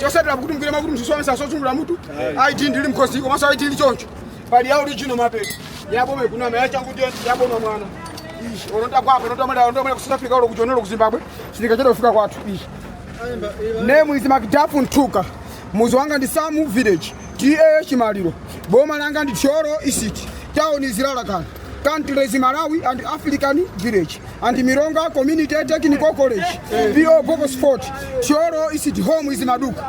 chotsatira kuti mugwire makutu tsitsi wameta mozungulira mutu id ndili mkhosi komanso id ili choncho pali ya original mapeto yaboma ikunama yachangu yaboma mwana ishi onotagwapo onotamala ondomala ku south africa olo kuchonero ku zimbabwe sitikachedwa kufika kwathu ishi name is macdafu nthuka mudzi wanga ndi samu village ta chimaliro boma langa ndi thyolo isiti tauni zilalakana Countries Malawi and African Village and Milonga Community Technical College PO Box 40 Thyolo is it home is Maduka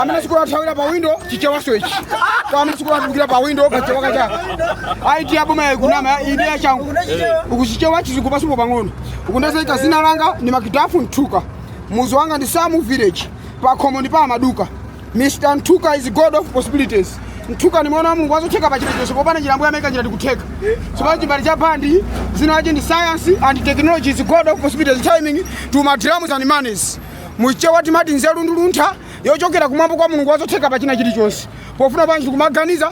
amene sukulu athawira pa window chichewanso ichi kwa amene sukulu atulukira pa window kachewa kachaka id yaboma yakunama id yachangu ukuchichewa chizungu pasupo pang'ono ukundazaika dzina langa ndi macdafu nthuka mudzi wanga ndi samu village pakhomo ndi pa amaduka Mr Nthuka is god of possibilities. Nthuka ni mwana wa Mulungu wazotheka pa chilichonse popanda njira ambuye amaika njira ndikutheka. Tsopano chimbale cha bandi dzina lache ndi science and technology is god of possibilities timing to my drums and monies. Muchewa timati nzeru ndi luntha yochokera kumwamba kwa Mulungu wazotheka pa china chilichonse. Pofuna panji ndikumaganiza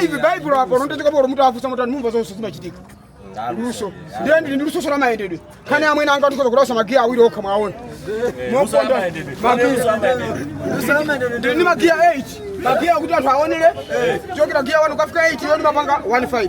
live baibulo apo nondeteka polo mutu afusa mutu anumva zonse zimachitika luso ndiye ndili ndi lusonso la mayendedwe khani amwene anga ndikoza kulasa magiya awiri okha mwaona moponda ndili ndi magiya 8 magiya kuti anthu aonere chokera giya 1 kafika 8 iyo ndimapanga 15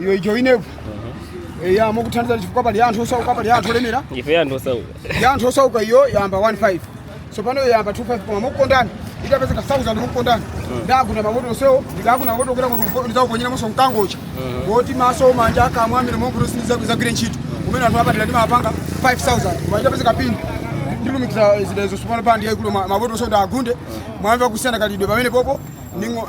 iyo icho ineku eya mukuthandiza chifukwa pali anthu osauka pali anthu olemera ife anthu osauka ya anthu osauka iyo yamba 15 tsopano iyo yamba 25 koma mukukondani itapezeka 1000 mukukondani ndagunda mamoto onsewo ndidaguna mamoto okera kuti ndizakuponyera monso mkangocha woti maso manja akamwa amene monkuti sindizagwire ntchito kumene anthu apadera ndimapanga 5000 koma itapezeka pini ndilumikira zidazo tsopano pandi yaikulu mamoto onsewo ndagunde mwamva kusiyana kalidwe pamene popo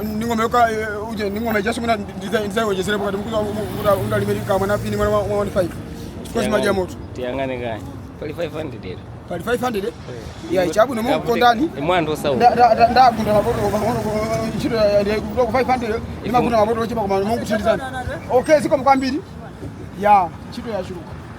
ndingomeyoka uje ndingome just kuna ndizaiwejezere pakati mkuza kuda unda limeri kama na pini mwana wa 15 chifukwa chimadya moto tiyang'ane kaya pali 500 lero pali 500 eh? ya chabwino mungu kondani mwandu sawa nda nda- nda- ndagunda mapoto pang'ono ntchito kutoka ku 500 imagunda mapoto ochepa koma mungu thandizani okay zikomo kwambiri ya ntchito yachuluka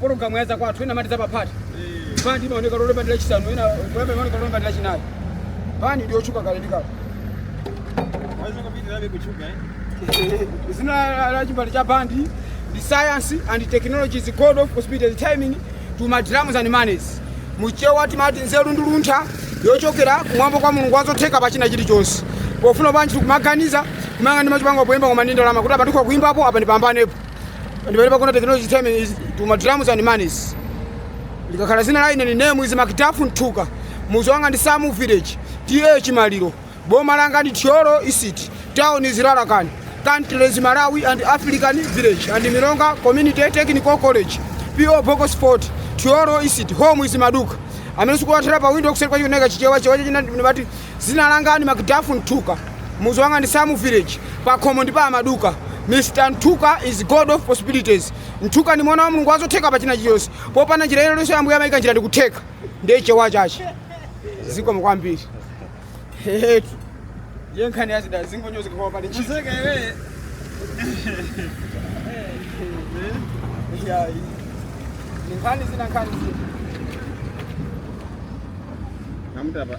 pologalamu ya zakwathu ena amati zapaphata bandi imaoneka lolemba ndi lachisanu ena kulamba imaoneka lolemba ndi lachinayi bandi ndi yotchuka kale ndi kale dzina la- la chimbale cha bandi ndi science and technology is god of possibility and timing to my drums and monies muchewa timati nzeru ndi luntha yochokera kumwamba kwa mulungu wazotheka pa china chilichonse pofuna panji ndikumaganiza kumanga ndi machipanga poyimba koma ndi ndalama kuti apa tikhoza kuyimbapo apa ndipambanepo And when Bakuna technology term is to my drums and manis. Likakhala zina la ine ni name is Makitafu Ntuka. Muzi wanga ndi Samu Village. TA Chimaliro. Boma langa ndi Thyolo Isiti. Town is Rarakan. Country is Malawi and African Village. And Mironga Community Technical College. PO Box Sport. Thyolo Isiti. Home is Maduka. Amene sikuwathera pa window kuseri kwa chioneka chichewa chewa china ndibati Dzina langa ni Macduff Mthuka, mudzi wanga ndi Samu village, pakhomo ndi pa a Maduka, Mr Mthuka is God of possibilities, Mthuka ndi mwana wa Mulungu wa zotheka pa china chilichonse, popanda njira ina iliyonse Ambuye amayika njira ndi kutheka, ndiye chewa chache, zikomo kwambiri. Hehetu. Ndiye nkhani ya zida zingonyozeka kwa pali ntchito. Iyayi. Ni nkhani zina nkhani zina. Namtapa.